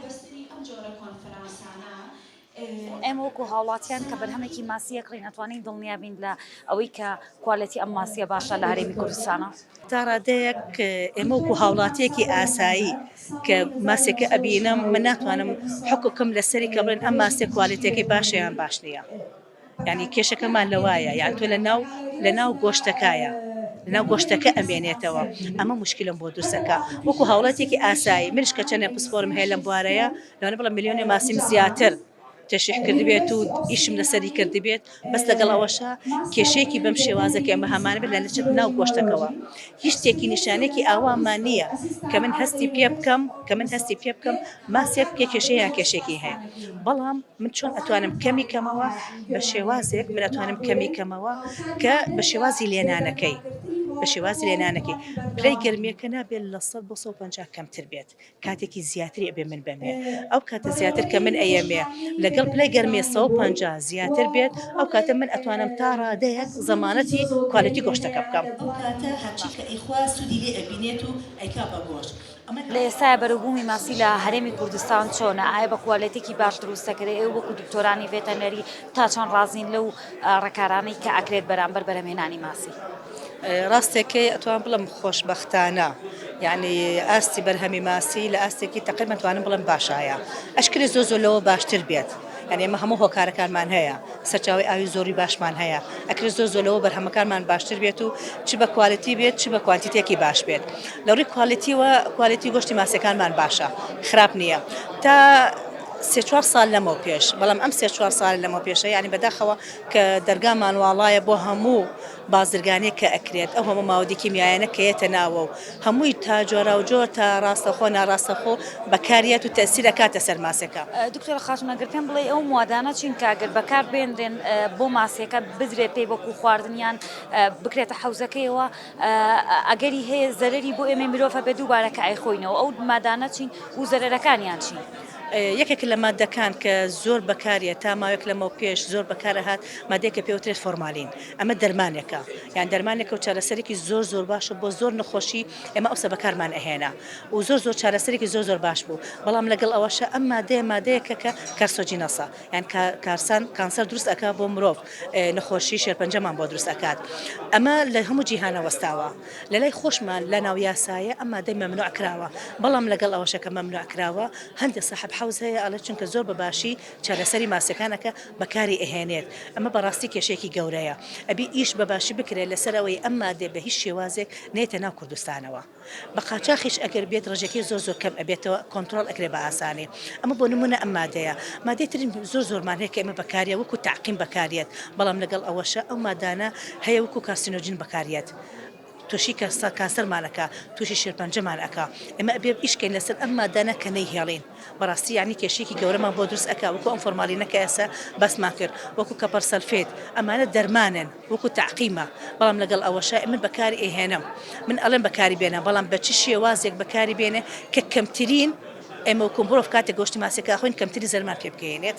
بەستنی ئەم جۆرە کۆنفرانسانە. ئێمە وەکو هاوڵاتیان کە بەرهەمێکی ماسییە کڕین ئەتوانین دڵنیا بین لە ئەوەی کە کوالێتی ئەم ماسییە باشە لە هەرێمی کوردستانە. تا ڕادەیەک ئێمە وەکو هاوڵاتییەکی ئاسایی کە ماسییەکە ئەبینم من ناتوانم حوکم کەم لەسەری کە بڵێن ئەم ماسییە کوالێتییەکەی باشە یان باش نییە. یانی کێشەکەمان لەوایە یان تۆ لەناو لەناو گۆشتەکایە لەناو گۆشتەکە ئەمێنێتەوە ئەمە مشکلم بۆ دروستەکە وەکو هاوڵاتێکی ئاسایی منش کە چەنێ پسپۆرم هەیە لەم بوارەیە لەوانە بڵە میلیۆنێ ماسیم زیاتر تەشیح کردبێت و ئیشم لەسەری کردبێت بەس لەگەڵ ئەوەشە کێشەیەکی بەم شێوازەکە ئەمە هەمان بێت لە لەچێت ناو گۆشتەکەەوە هیچ تێکی نیشانەیەکی ئاوامان نییە کە من هەستی پێ بکەم کە من هەستی پێ بکەم ماسێک پێ کێشەیە یان کێشێکی هەیە بەڵام من چۆن ئەتوانم کەمی کەمەوە بە شێوازێک من ئەتوانم کەمی کەمەوە کە بە شێوازی لێنانەکەی بە شێوازی لێنانەکەی پلەی گەرمیەکە نابێت لە سەد بۆ سەد و پەنجا کەمتر بێت کاتێکی زیاتری ئەبێ من بەمێ ئەو کاتە زیاتر کە من ئەیەمێ لەگەڵ پلەی گەرمێ سەو پ زیاتر بێت ئەو کاتە من ئەتوانم تا ڕادەیە زەمانەتی کوالەتی گۆشتەکە بکەم لە ئێستایا بەرەوبوومی ماسی لە هەرێمی کوردستان چۆنە ئایا بە کوالێتێکی باش دروست دەکرێت ئێ وەکو دکتۆرانی ڤێتەنەری تا چۆن ڕازین لەو ڕێکارانەی کە ئەکرێت بەرامبەر بەرەمێنانی ماسی ڕاستەکەی ئەتوان بڵم خۆشبەختانە یعنی ئاستی بەرهەمی ماسی لە ئاستێکی تەقریبا توانم بڵم باشایە ئەشکری زۆ زۆ لەوە باشتر بێت یعنی ئمە هەموو هۆکارەکانمان هەیە سەرچاوی ئاوی زۆری باشمان هەیە ئەکری زۆ زۆ لەوە بەرهەمەکانمان باشتر بێت و چ بە کوالەتی بێت چ بە کوانتیتێکی باش بێت لە ڕووی کوالەتیوە کوالەتی گۆشتی ماسیەکانمان باشە خراپ نییە تا سێ چوار سال لەمەو پێش بەڵام ئەم سێ چوار سال لەمە پێشە ینی بەداخەوە کە دەرگامان واڵایە بۆ هەموو بازرگانێک کە ئەکرێت ئەو هەموو ماودی کیمیایانە کە یەتە ناوە و هەمووی تا جۆراو جۆر تا ڕاستەخۆ ناڕاستەخۆ بەکاریەت و تەسیر ئەکاتە سەر ماسێکە. دکتۆرە خاتون ئەگەر پێم بڵێی ئەو موادانە چین کە ئەگەر بەکار بێنرێن بۆ ماسیەکە بدرێت پێی وەکو خواردن یان بکرێتە حەوزەکەیەوە ئەگەری هەیە زەرری بۆ ئێمەی مرۆڤ هەبێت دووبارە کە ئەیخۆینەوە ئەو مادانە چین و زەرەرەکانیان چین؟ یەکێک لە ماددەکان کە زۆر بەکاریە تا ماوەیەک لەمەو پێش زۆر بەکارەهات مادێکە پێوترێت فۆرمالین ئەمە دەرمانێکە یان دەرمانێکە و چارەسەرێکی زۆر زۆر باشە بۆ زۆر نەخۆشی ئێمە ئەوسە بەکارمان ئەهێنا و زۆر زۆر چارەسەرێکی زۆر زۆر باش بوو بەڵام لەگەڵ ئەوەشە ئەم مادەیە مادەیەکە کە کەرسۆجینەسە یان کارسان کانسەر دروست ئەکا بۆ مرۆڤ نەخۆشی شێرپەنجەمان بۆ دروست ئەکات ئەمە لە هەموو جیهانە وەستاوە لە لای خۆشمان لە ناو یاسایە ئەم مادەی مەمنوع کراوە بەڵام لەگەڵ ئەوەشەکە مەمنوع کراوە هەندێک سەحب حەوز هەیە ئەڵێ چونکە زۆر بە باشی چارەسەری ماسیەکانەکە بەکاری ئەهێنێت ئەمە بەڕاستی کێشێکی گەورەیە ئەبی ئیش بە باشی بکرێت لەسەر ئەوەی ئەم مادێ بە هیچ شێوازێک نێتە ناو کوردستانەوە. بە قاچاخیش ئەگەر بێت ڕێژەکەی زۆر زۆر کەم ئەبێتەوە کۆنتڕۆڵ ئەکرێ بە ئاسانی ئەمە بۆ نمونە ئەم مادەیە مادەی ترین زۆر زۆرمان هەیە کە ئێمە بەکاریە وەکو تاقیم بەکاریت بەڵام لەگەڵ ئەوەشە ئەو مادانە هەیە وەکو کاسینۆجین بەکاریت توشی کەستا کاسەرمانەکە توشی شێرپەنجەمان ئەک ئمە ئەبێ ئیشکەین لەسەر ئەم مادانە کە نەیهێڵین بەڕاستی یعنی کێشێکی گەورەمان بۆ دروست ئەک وەکو ئەم فۆرمالینەکە ئێسە بەسمان کرد وەکو کەپەر سەلفێت ئەمانە دەرمانن وەکو تەعقیمە بەڵام لەگەڵ ئەوەشا ئێمە بەکاری ئەیهێنم من ئەڵێم بەکاری بێنە بەڵام بە چ شێوازێک بەکاری بێنێ کە کەمترین ئێمە وەکو مرۆڤ کاتێک گۆشتی ماسیەکە ئەخۆین کەمتری زەرمان پێ بگەینێت